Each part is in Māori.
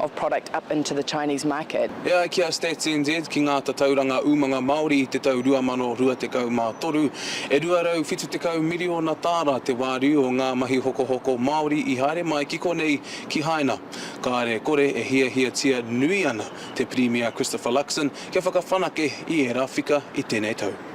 of product up into the Chinese market. E ai ki a Stats NZ, ki ngā tatauranga umanga Māori i te tau 2023, e 270 miriona tāra te wāriu o ngā mahi hokohoko Māori i haere mai ki konei ki Haina. Kāre kore e hiahiatia nui ana te Pirimia Christopher Luxon kia whakawhanake i ērā whika i tēnei tau.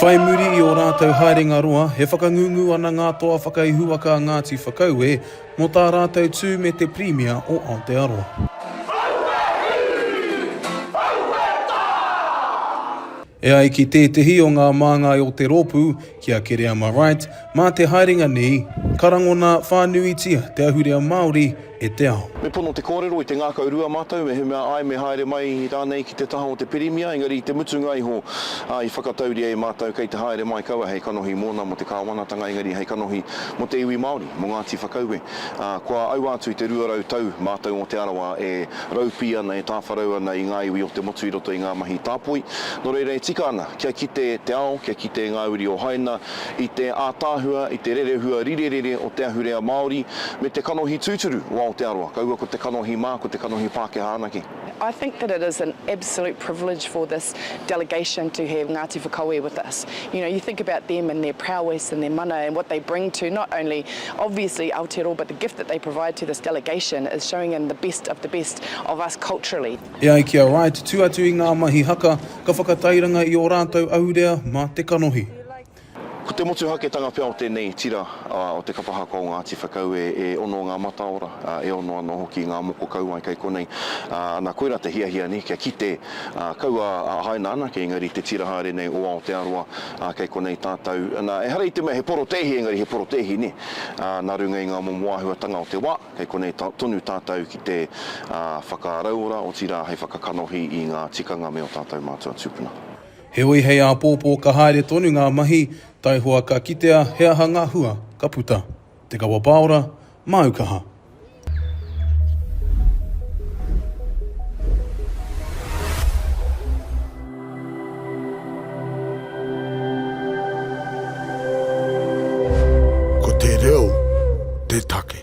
Whai muri i ō rātou haerenga roa, e whakangungu ana ngā toa whakaihuwaka a Ngāti Whakaue mō tā rātou tū me te Pirimia o Aotearoa. E ai ki tētehi o ngā māngai o te rōpū, ki a Kereama Wright, mā te haerenga nei, ka rangona whānuitia te ahurea Māori e te ao. Me pono te kōrero i te ngākau rua mātou mehemea āe me haere mai rānei ki te taha o te Pirimia, engari i te mutunga iho, ā, i whakatauria e mātou kei te haere mai kaua hei kanohi mōna mō te kāwanatanga engari hei kanohi mō te iwi Māori, mō Ngāti Whakaue, ā, kua aua atu i te rua rau tau mātou o Te Arawa e Raupī ana, e tāwharau ana i ngā iwi o te motu i roto i ngā mahi tāpoi. Nō reira e tika ana kia kite te ao, kia kite ngā uri o Haina i te ātaahua, i te rerehua rirerere o te ahurea Māori me te kanohi tūturu o Aotearoa, kaua ko te kanohi mā, ko te kanohi Pākehā anake. I think that it is an absolute privilege for this delegation to have Ngāti Whakaue with us. You know, you think about them and their prowess and their mana and what they bring to not only obviously Aotearoa but the gift that they provide to this delegation is showing in the best of the best of us culturally. E ai ki a Wright, tū atu i ngā mahi haka, ka whakatairanga i ō rātou ahurea mā te kanohi. Ko te motuhaketanga pea o tēnei tira o te kapa haka o Ngāti Whakaue, e ono ngā mataora, e ono anō hoki ngā moko kauae kei konei. Nā, koirā te hiahia nei, kia kite, kaua haina anake, engari i te tira haere nei o Aotearoa, kei konei tātou. Nā, ehara i te mea he porotēhi, engari he porotēhi, nē, nā runga i ngā momo āhuatanga o te wā, kei konei tonu tātou ki te whakarauora, otirā hei whakakanohi i ngā tikanga me ō tātou mātua tūpuna. Heoi hei āpōpō ka haere tonu ngā mahi, taihoa ka kitea he aha ngā hua ka puta. Te kawa pāora, māu kaha. Ko te reo te take.